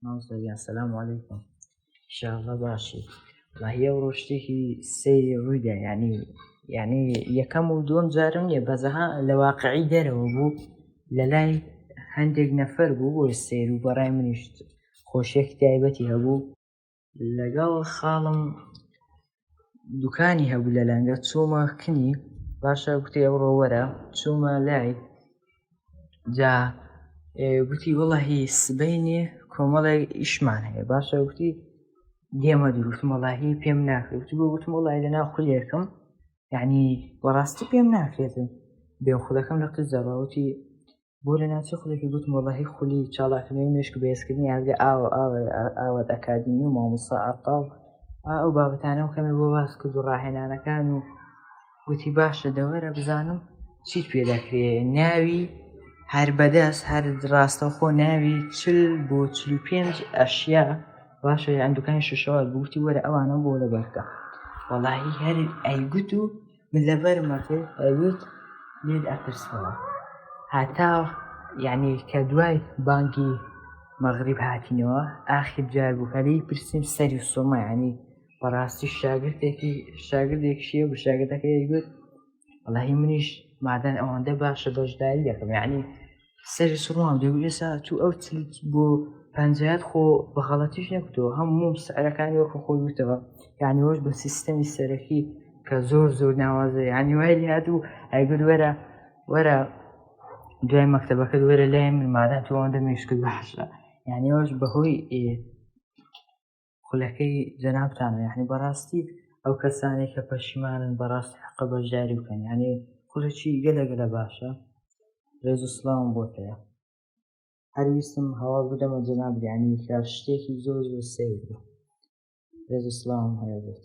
ماوسەریان سەسلام عیکم شاڵە باشی ڕاهە و ڕۆشتێکی سەیری ڕوویدا ینی یعنی یەکەم و دوم جارم نیە بەزەها لە واقعی دەرەوە بوو لە لای هەندێک نەفەر بوو بۆ سیر و بەڕای منیشت خۆشیەکی تایبەتی هەبوو لەگەڵ خاڵم دوکانی هەبوو لە لەنگە چۆمە کنی باشە گوتی ئەو ڕۆوەرە چۆمە لای جا گوتی وڵە هی سبینێ کۆمەڵێک ئیشمان هەیە باشە گوتی دێمە دروستمەڵاهی پێم ناکرێت گوتی بۆ گوتم وڵی لە ناو خولێکم یعنی وەڕاستی پێم ناکرێتن بێ خولەکەم لە قزەڕەوتی بۆ لە ناوچەی خولەکی گوتم وەڵاهی خولی چاڵاکنەوەی مێشک بەهێزکردنی یادگە ئاوە ئاوە ئاوات ئەکادیمی و مامۆستا ئەقاڵ ئەو بابەتانە و کەمێ بۆ باس کرد و ڕاهێنانەکان و گوتی باشە دەوەرە بزانم چیت پێ دەکرێ ناوی هەر بەدەست هەر ڕاستەخۆ ناوی چل بۆ چل و پێنج ئەشیا باشە ئەندوکانی شوشەوە گوتی وەرە ئەوانە بۆ لە بەرکە وەڵاهی هەر ئەیگوت و من لەبەرم ئەکرد ئەویت لێت ئەپرسەوە هەتا یعنی کە دوای بانگی مەغریب هاتینەوە ئاخر جار بوو هەلی پرسیم سەری سۆمە ینی بەڕاستی شاگردێکی شاگردێک شیە و شاگردەکە یگوت وڵی منیش مادەن ئەوەندە باشە بەشداری دەکەم یعنی سەری سوڕماوە دەگوت ئێستا تو ئەو چلت بۆ پەنجایەت خۆ بە غەڵەتیش نەگوتەوە هەموو سعرەکانی وەکو خۆی وتەوە یانی وەش بە سیستەمی سەرەکی کە زۆر زۆر ناوازە یانی وای لێ هات و ئەیگوت وەرە وەرە دوای مەکتەبەکە وەرە لای من مادام تۆ ئەوەندە مێشکت باشە یانی وەش بەهۆی خولەکەی جەنابتانە یعنی بەڕاستی ئەو کەسانێک کە پەشیمانن بەڕاستی حەقە بەشداری بکەن یعنی خولەکی گەلە گەلە باشە ڕێز و سڵاوم بۆ هەیە هەرویستم هەوا بدەمە جەناب یعنی کە شتێکی زۆر زۆر سیر بوو ڕێز و سڵاوم هەیە بێت